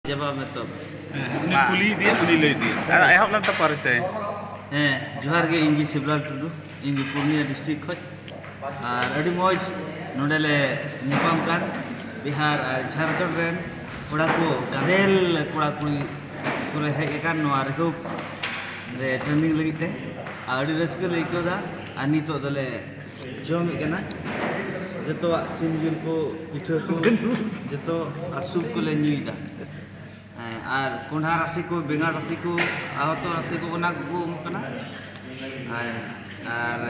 ᱡᱟᱵᱟ ᱢᱮᱛᱚ ᱩᱱᱤ ᱠᱩᱞᱤ ᱤᱫᱤᱭᱟ ᱩᱱᱤ ᱞᱟᱹᱭ ᱤᱫᱤᱭᱟ ᱟᱨ ᱮᱦᱚᱵ ᱞᱮᱱ ᱛᱟ ᱯᱟᱨᱤᱪᱟᱭ ᱦᱮᱸ ᱡᱚᱦᱟᱨ ᱜᱮ ᱤᱧ ᱜᱮ ᱥᱤᱵᱞᱟᱞ ᱴᱩᱰᱩ ᱤᱧ ᱫᱚ ᱯᱩᱨᱱᱤᱭᱟ ᱰᱤᱥᱴᱨᱤᱠ ᱠᱷᱚᱡ ᱟᱨ ᱟᱹᱰᱤ ᱢᱚᱡᱽ ᱱᱚᱰᱮ ᱞᱮ ᱧᱟᱯᱟᱢ ᱠᱟᱱ ᱵᱤᱦᱟᱨ ᱟᱨ ᱡᱷᱟᱲᱠᱷᱚᱸᱰ ᱨᱮᱱ ᱠᱚᱲᱟ ᱠᱚ ᱜᱟᱫᱮᱞ ᱠᱚᱲᱟ ᱠᱩᱲᱤ ᱠᱚᱞᱮ ᱦᱮᱡ ᱟᱠᱟᱱ ᱱᱚᱣᱟ ᱨᱤᱦᱩᱵ ᱨᱮ ᱴᱨᱮᱱᱤᱝ ᱞᱟᱹᱜᱤᱫ ᱛᱮ ᱟᱨ ᱟᱹᱰᱤ ᱨᱟᱹᱥᱠᱟᱹ ᱞᱮ ᱟᱹᱭᱠᱟᱹᱣᱫᱟ ᱟᱨ ᱱᱤᱛᱚᱜ ᱫᱚᱞᱮ ᱡᱚᱢᱮᱫ ᱠᱟᱱᱟ ᱡᱚᱛᱚᱣᱟᱜ ᱥᱤᱢ ᱡᱤᱞ ᱠᱚ ᱯᱤᱴᱷᱟᱹ ᱠᱚ ᱡᱚᱛᱚ ᱟᱨ ᱥᱩᱯ ᱠᱚᱞᱮ ᱧᱩᱭᱮᱫᱟ ᱦᱮᱸ ᱟᱨ ᱠᱚᱸᱰᱷᱟ ᱨᱟᱥᱮ ᱠᱚ ᱵᱮᱸᱜᱟᱲ ᱨᱟᱥᱮ ᱠᱚ ᱟᱦᱚᱛᱚ ᱨᱟᱥᱮ ᱠᱚ ᱚᱱᱟ ᱠᱚᱠᱚ ᱮᱢᱚᱜ ᱠᱟᱱᱟ ᱦᱮᱸ ᱟᱨ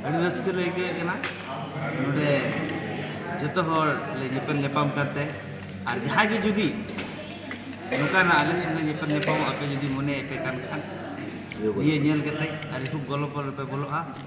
ᱟᱹᱰᱤ ᱨᱟᱹᱥᱠᱟᱹ ᱞᱮ ᱟᱹᱭᱠᱟᱹᱣᱮᱫ ᱠᱟᱱᱟ ᱱᱚᱰᱮ ᱡᱚᱛᱚ ᱦᱚᱲ ᱞᱮ ᱧᱮᱯᱮᱞ ᱧᱟᱯᱟᱢ ᱠᱟᱱᱛᱮ ᱟᱨ ᱡᱟᱦᱟᱸᱭ ᱜᱮ ᱡᱩᱫᱤ ᱱᱚᱝᱠᱟᱱᱟᱜ ᱟᱞᱮ ᱥᱚᱸᱜᱮ ᱧᱮᱯᱮᱞ ᱧᱟᱯᱟᱢᱚᱜ ᱟᱯᱮ ᱡᱩᱫᱤ ᱢᱚᱱᱮᱭᱮᱫ ᱯᱮ ᱠᱟᱱ ᱠᱷᱟᱱ ᱱᱤᱭᱟᱹ ᱧᱮᱞ ᱠᱟᱛᱮᱫ ᱟᱹᱰᱤ ᱠᱷᱩᱵ ᱜᱚᱞᱚ ᱯᱚᱞᱚ ᱨᱮᱯᱮ ᱵᱚᱞᱚᱜᱼᱟ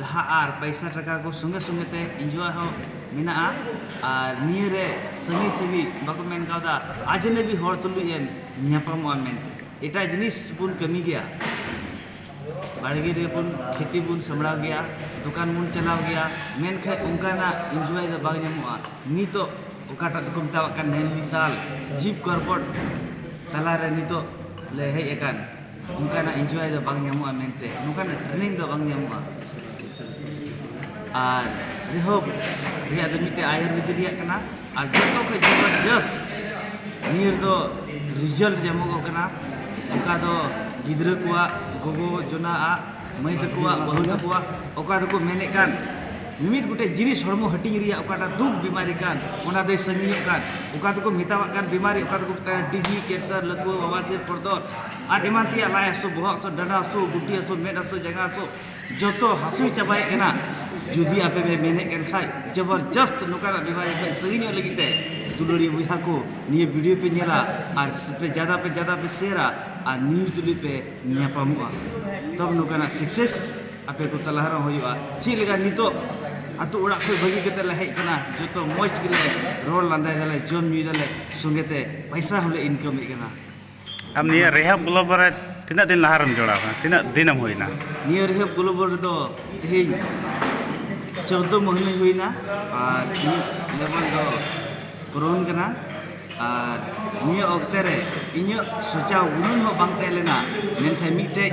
ᱞᱟᱦᱟ ᱟᱨ ᱯᱟᱭᱥᱟ ᱴᱟᱠᱟ ᱠᱚ ᱥᱚᱸᱜᱮ ᱥᱚᱸᱜᱮ ᱛᱮ ᱤᱱᱡᱚᱭ ᱦᱚᱸ ᱢᱮᱱᱟᱜᱼᱟ ᱟᱨ ᱱᱤᱭᱟᱹ ᱨᱮ ᱥᱟᱺᱜᱤᱧ ᱥᱟᱺᱜᱤᱧ ᱵᱟᱠᱚ ᱢᱮᱱ ᱠᱟᱣᱫᱟ ᱟᱡᱽᱱᱟᱵᱤ ᱦᱚᱲ ᱛᱩᱞᱩᱡ ᱮᱢ ᱧᱟᱯᱟᱢᱚᱜᱼᱟ ᱢᱮᱱᱛᱮ ᱮᱴᱟᱜ ᱡᱤᱱᱤᱥ ᱵᱚᱱ ᱠᱟᱹᱢᱤ ᱜᱮᱭᱟ ᱵᱟᱲᱜᱮ ᱨᱮᱵᱚᱱ ᱠᱷᱮᱛᱤ ᱵᱚᱱ ᱥᱟᱢᱵᱽᱲᱟᱣ ᱜᱮᱭᱟ ᱫᱚᱠᱟᱱ ᱵᱚᱱ ᱪᱟᱞᱟᱣ ᱜᱮᱭᱟ ᱢᱮᱱᱠᱷᱟᱱ ᱚᱱᱠᱟᱱᱟᱜ ᱤᱱᱡᱚᱭ ᱫᱚ ᱵᱟᱝ ᱧᱟᱢᱚᱜᱼᱟ ᱱᱤᱛᱚᱜ ᱚᱠᱟᱴᱟᱜ ᱫᱚᱠᱚ ᱢᱮᱛᱟᱣᱟᱜ ᱠᱟᱱ ᱱᱮᱱᱰᱢᱤᱛᱟᱞ ᱡᱤᱵᱽ ᱠᱚᱨᱵᱚᱴ ᱛᱟᱞᱟ ᱨᱮ ᱱᱤᱛᱚᱜ ᱞᱮ ᱦᱮᱡ ᱟᱠᱟᱱ ᱚᱱᱠᱟᱱᱟᱜ ᱤᱱᱡᱚᱭ ᱫᱚ ᱵᱟᱝ ᱧᱟᱢᱚᱜᱼᱟ ᱢᱮᱱᱛᱮ ᱚᱱᱠᱟᱱᱟᱜ ᱴᱨᱮᱱᱤᱝ ᱫᱚ ᱵᱟᱝ ᱧᱟᱢᱚᱜᱼᱟ ᱟᱨ ᱡᱟᱭᱦᱳᱠ ᱱᱤᱭᱟᱹ ᱫᱚ ᱢᱤᱫᱴᱮᱱ ᱟᱭᱩᱨᱵᱮᱫ ᱨᱮᱭᱟᱜ ᱠᱟᱱᱟ ᱟᱨ ᱡᱚᱛᱚ ᱠᱷᱚᱱ ᱡᱚᱵᱚᱨᱫᱚᱥᱛ ᱱᱤᱭᱟᱹ ᱨᱮᱫᱚ ᱨᱮᱡᱟᱞᱴ ᱧᱟᱢᱚᱜᱚᱜ ᱠᱟᱱᱟ ᱚᱠᱟ ᱫᱚ ᱜᱤᱫᱽᱨᱟᱹ ᱠᱚᱣᱟᱜ ᱜᱚᱜᱚ ᱡᱚᱱᱟᱜᱼᱟᱜ ᱢᱟᱹᱭ ᱛᱟᱠᱚᱣᱟᱜ ᱵᱟᱹᱦᱩ ᱛᱟᱠᱚᱣᱟᱜ ᱚᱠᱟ ᱫᱚᱠᱚ ᱢᱮᱱᱮᱫ ᱠᱟᱱ ᱢᱤᱢᱤᱫ ᱜᱚᱴᱮᱡ ᱡᱤᱱᱤᱥ ᱦᱚᱲᱢᱚ ᱦᱟᱹᱴᱤᱧ ᱨᱮᱭᱟᱜ ᱚᱠᱟᱴᱟᱜ ᱫᱩᱠ ᱵᱤᱢᱟᱨᱤ ᱠᱟᱱ ᱚᱱᱟ ᱫᱚᱭ ᱥᱟᱺᱜᱤᱧᱚᱜ ᱠᱟᱱ ᱚᱠᱟ ᱫᱚᱠᱚ ᱢᱮᱛᱟᱣᱟᱜ ᱠᱟᱱ ᱵᱤᱢᱟᱨᱤ ᱚᱠᱟ ᱫᱚᱠᱚ ᱢᱮᱛᱟᱜ ᱠᱟᱱ ᱴᱤᱵᱤ ᱠᱮᱱᱥᱟᱨ ᱞᱟᱹᱛᱩᱣᱟᱹ ᱵᱟᱵᱟᱥᱤᱨ ᱯᱚᱨᱫᱚᱞ ᱟᱨ ᱮᱢᱟᱱ ᱛᱮᱭᱟᱜ ᱞᱟᱡ ᱦᱟᱹᱥᱩ ᱵᱚᱦᱚᱜ ᱦᱟᱹᱥᱩ ᱰᱟᱸᱰᱟ ᱦᱟᱹᱥᱩ ᱜᱩᱴᱤ ᱦᱟᱹᱥᱩ ᱢᱮᱫ ᱦᱟᱹᱥᱩ ᱡᱟᱸᱜᱟ ᱦᱟᱹᱥᱩ ᱡᱚᱛᱚ ᱦᱟᱹᱥᱩ ᱪᱟᱵᱟᱭᱮᱫ ᱠᱟᱱᱟ ᱡᱩᱫᱤ ᱟᱯᱮ ᱯᱮ ᱢᱮᱱᱮᱫ ᱠᱟᱱ ᱠᱷᱟᱡ ᱡᱚᱵᱚᱨᱡᱚᱥᱛ ᱱᱚᱝᱠᱟᱱᱟᱜ ᱵᱤᱢᱟᱨᱤ ᱠᱷᱚᱡ ᱥᱟᱺᱜᱤᱧᱚᱜ ᱞᱟᱹᱜᱤᱫ ᱛᱮ ᱫᱩᱞᱟᱹᱲᱤᱭᱟᱹ ᱵᱚᱭᱦᱟ ᱠᱚ ᱱᱤᱭᱟᱹ ᱵᱷᱤᱰᱤᱭᱳ ᱯᱮ ᱧᱮᱞᱟ ᱟᱨ ᱡᱟᱫᱟ ᱯᱮ ᱡᱟᱫᱟ ᱯᱮ ᱥᱮᱭᱟᱨᱟ ᱟᱨ ᱱᱤᱭᱩᱡᱽ ᱛᱩᱞᱩᱡ ᱯᱮ ᱧᱟᱯᱟᱢᱚᱜᱼᱟ ᱛᱚᱵᱮ ᱱᱚᱝᱠᱟᱱᱟᱜ ᱥᱟᱠᱥᱮᱥ ᱟᱯᱮ ᱠᱚ ᱛᱟᱞᱟ ᱨᱮᱦᱚᱸ ᱦᱩᱭᱩᱜᱼᱟ ᱪᱮᱫ ᱞᱮᱠᱟ ᱱᱤᱛᱚᱜ ᱟᱛᱳ ᱚᱲᱟᱜ ᱠᱷᱚᱡ ᱵᱟᱹᱜᱤ ᱠᱟᱛᱮ ᱞᱮ ᱦᱮᱡ ᱠᱟᱱᱟ ᱡᱚᱛᱚ ᱢᱚᱡᱽ ᱜᱮᱞᱮ ᱨᱚᱲ ᱞᱟᱸᱫᱟᱭ ᱫᱟᱞᱮ ᱡᱚᱢ ᱧᱩᱭ ᱫᱟᱞᱮ ᱥᱚᱸᱜᱮ ᱛᱮ ᱯᱚᱭᱥᱟ ᱦᱚᱸᱞᱮ ᱤᱱᱠᱟᱢᱮᱫ ᱠᱟᱱᱟ ᱟᱢ ᱱᱤᱭᱟᱹ ᱨᱮᱦᱟᱵ ᱜᱞᱳᱵᱟᱞ ᱨᱮ ᱛᱤᱱᱟᱹᱜ ᱫᱤᱱ ᱞᱟᱦᱟ ᱨᱮᱢ ᱡᱚᱲᱟᱣ ᱟᱠᱟᱱᱟ ᱛᱤᱱᱟᱹᱜ ᱫᱤᱱᱮᱢ ᱦᱩᱭᱱᱟ ᱱᱤᱭᱟᱹ ᱨᱮᱦᱟᱵ ᱜᱞᱳᱵᱟᱞ ᱨᱮᱫᱚ ᱛᱮᱦᱮᱧ ᱪᱳᱫᱫᱳ ᱢᱟᱹᱦᱱᱟᱹ ᱦᱩᱭᱱᱟ ᱟᱨ ᱤᱧᱟᱹᱜ ᱞᱮᱵᱮᱞ ᱫᱚ ᱯᱩᱨᱚᱱ ᱠᱟᱱᱟ ᱟᱨ ᱱᱤᱭᱟᱹ ᱚᱠᱛᱮ ᱨᱮ ᱤᱧᱟᱹᱜ ᱥᱚᱪᱟᱣ ᱜᱩᱱᱟᱹᱱ ᱦᱚᱸ ᱵᱟᱝ ᱛᱟᱦᱮᱸ ᱞᱮᱱᱟ ᱢᱮᱱᱠᱷᱟᱱ ᱢᱤᱫᱴᱮᱱ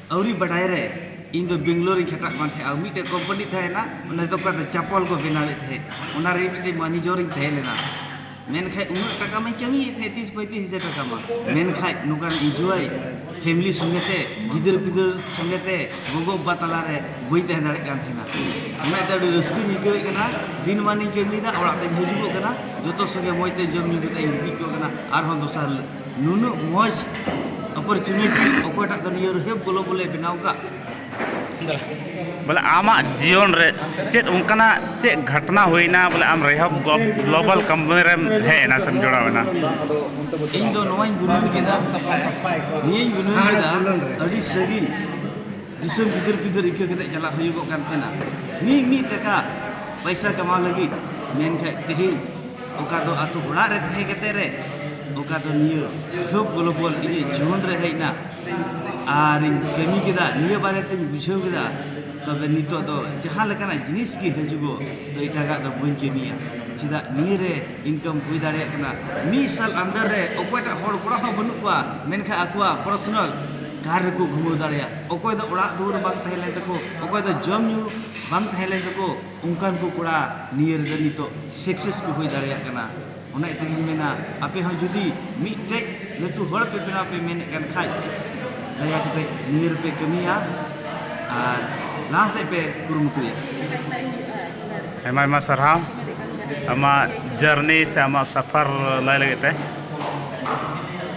ᱟᱹᱣᱨᱤ ᱵᱟᱰᱟᱭ ᱨᱮ ᱤᱧ ᱫᱚ ᱵᱮᱝᱜᱟᱞᱳᱨ ᱨᱤᱧ ᱠᱷᱟᱴᱟᱜ ᱠᱟᱱ ᱛᱟᱦᱮᱸᱫ ᱟᱨ ᱢᱤᱫᱴᱮᱱ ᱠᱳᱢᱯᱟᱱᱤ ᱛᱟᱦᱮᱸ ᱠᱟᱱᱟ ᱚᱱᱟ ᱫᱚ ᱚᱠᱟ ᱫᱚ ᱪᱟᱯᱚᱞ ᱠᱚ ᱵᱮᱱᱟᱣᱮᱫ ᱛᱟᱦᱮᱸᱫ ᱚᱱᱟ ᱨᱮ ᱢᱤᱫᱴᱮᱱ ᱢᱮᱱᱮᱡᱚᱨ ᱤᱧ ᱛᱟᱦᱮᱸ ᱞᱮᱱᱟ ᱢᱮᱱᱠᱷᱟᱱ ᱩᱱᱟᱹᱜ ᱴᱟᱠᱟ ᱢᱟᱹᱧ ᱠᱟᱹᱢᱤᱭᱮᱫ ᱛᱟᱦᱮᱸᱫ ᱛᱤᱥ ᱯᱚᱸᱭᱛᱨᱤᱥ ᱦᱟᱡᱟᱨ ᱴᱟᱠᱟ ᱢᱟ ᱢᱮᱱᱠᱷᱟᱱ ᱱᱚᱝᱠᱟᱱ ᱤᱱᱡᱚᱭ ᱯᱷᱮᱢᱮᱞᱤ ᱥᱚᱸᱜᱮ ᱛᱮ ᱜᱤᱫᱟᱹᱨ ᱯᱤᱫᱟᱹᱨ ᱥᱚᱸᱜᱮ ᱛᱮ ᱜᱚᱜᱚ ᱵᱟᱵᱟ ᱛᱟᱞᱟ ᱨᱮ ᱵᱟᱹᱧ ᱛᱟᱦᱮᱸ ᱫᱟᱲᱮᱭᱟᱜ ᱠᱟᱱ ᱛᱟᱦᱮᱱᱟ ᱚᱱᱟ ᱤᱭᱟᱹᱛᱮ ᱟᱹᱰᱤ ᱨᱟᱹᱥᱠᱟᱹᱧ ᱟᱹᱭᱠᱟᱹᱣᱮᱫ ᱠᱟᱱᱟ ᱫᱤᱱ ᱢᱟᱱᱤᱧ ᱠᱟᱹᱢᱤᱭᱮᱫᱟ ᱚᱲᱟᱜ ᱛᱮᱧ ᱦᱤᱡᱩᱜᱚᱜ ᱠᱟᱱᱟ ᱡᱚᱛᱚ ᱥᱚᱸᱜᱮ ᱢᱚᱡᱽ ᱛᱮ ᱡᱚᱢ ᱧᱩ ᱠᱟᱛᱮᱫ ᱤᱧ ᱜᱤᱛᱤᱡ ᱠᱚᱜ ᱠᱟᱱᱟ ᱟᱨᱦᱚᱸ ᱫᱚᱥᱟᱨ ᱦᱤᱞᱳᱜ ᱱᱩᱱᱟᱹᱜ ᱢᱚᱡᱽ ᱚᱯᱚᱨᱪᱩᱱᱤᱴᱤ ᱚᱠᱚᱭᱴᱟᱜ ᱫᱚ ᱱᱤᱭᱟᱹ ᱨᱮᱦᱮᱵ ᱜᱚᱞᱚ ᱵᱚᱞᱮ ᱵᱮᱱᱟᱣ ᱠᱟᱜ ᱵᱚᱞᱮ ᱟᱢᱟᱜ ᱡᱤᱭᱚᱱ ᱨᱮ ᱪᱮᱫ ᱚᱱᱠᱟᱱᱟᱜ ᱪᱮᱫ ᱜᱷᱚᱴᱱᱟ ᱦᱩᱭᱱᱟ ᱵᱚᱞᱮ ᱟᱢ ᱨᱮᱦᱚᱵ ᱜᱞᱳᱵᱟᱞ ᱠᱳᱢᱯᱟᱱᱤ ᱨᱮᱢ ᱦᱮᱡ ᱮᱱᱟ ᱥᱮᱢ ᱡᱚᱲᱟᱣ ᱮᱱᱟ ᱤᱧ ᱫᱚ ᱱᱚᱣᱟᱧ ᱜᱩᱱᱟᱹᱱ ᱠᱮᱫᱟ ᱱᱤᱭᱟᱹᱧ ᱜᱩᱱᱟᱹᱱ ᱠᱮᱫᱟ ᱟᱹᱰᱤ ᱥᱟᱺᱜᱤᱧ ᱫᱤᱥᱚᱢ ᱜᱤᱫᱟᱹᱨ ᱯᱤᱫᱟᱹᱨ ᱤᱠᱟᱹ ᱠᱟᱛᱮ ᱪᱟᱞᱟᱜ ᱦᱩᱭᱩᱜᱚᱜ ᱠᱟᱱ ᱛᱟᱦᱮᱱᱟ ᱢᱤᱫ ᱢᱤᱫ ᱴᱟᱠᱟ ᱯᱚᱭᱥᱟ ᱠᱟᱢᱟᱣ ᱞᱟᱹᱜᱤᱫ ᱢᱮᱱᱠᱷᱟᱡ ᱛᱮᱦᱮᱧ ᱚᱠᱟ ᱫᱚ ᱟᱛᱳ ᱚᱲᱟᱜ ᱨᱮ ᱛᱟᱦᱮᱸ ᱠᱟᱛᱮ ᱨᱮ ᱚᱠᱟ ᱫᱚ ᱱᱤᱭᱟᱹ ᱦᱮᱞᱯ ᱜᱞᱳᱵᱚᱞ ᱤᱧᱟᱹᱜ ᱡᱤᱭᱚᱱ ᱨᱮ ᱦᱮᱡ ᱮᱱᱟ ᱟᱨᱤᱧ ᱠᱟᱹᱢᱤ ᱠᱮᱫᱟ ᱱᱤᱭᱟᱹ ᱵᱟᱨᱮ ᱛᱤᱧ ᱵᱩᱡᱷᱟᱹᱣ ᱠᱮᱫᱟ ᱛᱚᱵᱮ ᱱᱤᱛᱚᱜ ᱫᱚ ᱡᱟᱦᱟᱸ ᱞᱮᱠᱟᱱᱟᱜ ᱡᱤᱱᱤᱥ ᱜᱮ ᱦᱤᱡᱩᱜᱚᱜ ᱛᱚ ᱮᱴᱟᱜᱟᱜ ᱫᱚ ᱵᱟᱹᱧ ᱠᱟᱹᱢᱤᱭᱟ ᱪᱮᱫᱟᱜ ᱱᱤᱭᱟᱹ ᱨᱮ ᱤᱱᱠᱟᱢ ᱦᱩᱭ ᱫᱟᱲᱮᱭᱟᱜ ᱠᱟᱱᱟ ᱢᱤᱫ ᱥᱟᱞ ᱟᱱᱫᱟᱨ ᱨᱮ ᱚᱠᱚᱭᱴᱟᱜ ᱦᱚᱲ ᱠᱚᱲᱟ ᱦᱚᱸ ᱵᱟᱹᱱᱩᱜ ᱠᱚᱣᱟ ᱢᱮᱱᱠᱷᱟᱱ ᱟᱠᱚᱣᱟᱜ ᱯᱟᱨᱥᱚᱱᱟᱞ ᱠᱟᱨ ᱨᱮᱠᱚ ᱜᱷᱩᱢᱟᱹᱣ ᱫᱟᱲᱮᱭᱟᱜ ᱚᱠᱚᱭ ᱫᱚ ᱚᱲᱟᱜ ᱫᱩᱣᱟᱹᱨ ᱵᱟᱝ ᱛᱟᱦᱮᱸ ᱞᱮᱱ ᱛᱟᱠᱚ ᱚᱠᱚᱭ ᱫᱚ ᱡᱚᱢ ᱧᱩ ᱵᱟᱝ ᱛᱟᱦᱮᱸ ᱞᱮᱱ ᱛᱟᱠᱚ ᱚᱱᱠᱟᱱ ᱠᱚ ᱠᱚᱲᱟ ᱱᱤᱭᱟᱹ ᱨᱮᱫᱚ ᱱᱤᱛᱚᱜ ᱥᱟᱠᱥᱮᱥ ᱠᱚ ᱦᱩᱭ ᱫᱟᱲᱮᱭᱟᱜ ᱠᱟᱱᱟ ᱚᱱᱟ ᱤᱭᱟᱹ ᱛᱮᱜᱮᱧ ᱢᱮᱱᱟ ᱟᱯᱮ ᱦᱚᱸ ᱡᱩᱫᱤ ᱢᱤᱫᱴᱮᱡ ᱞᱟᱹᱴᱩ ᱦᱚᱲ ᱯᱮ ᱵᱮᱱᱟᱣ ᱯᱮ ᱢᱮᱱᱮᱫ ᱠᱟᱱ ᱠᱷᱟᱡ ᱫᱟᱭᱟ ᱠᱟᱛᱮ ᱱᱤᱭᱟᱹ ᱨᱮᱯᱮ ᱠᱟᱹᱢᱤᱭᱟ ᱟᱨ ᱞᱟᱦᱟ ᱥᱮᱫ ᱯᱮ ᱠᱩᱨᱩᱢᱩᱴᱩᱭᱟ ᱟᱭᱢᱟ ᱟᱭᱢᱟ ᱥᱟᱨᱦᱟᱣ ᱟᱢᱟᱜ ᱡᱟᱨᱱᱤ ᱥᱮ ᱟᱢᱟᱜ ᱥᱟᱯᱷᱟᱨ ᱞᱟᱹᱭ ᱞᱟᱹᱜᱤᱫ ᱛᱮ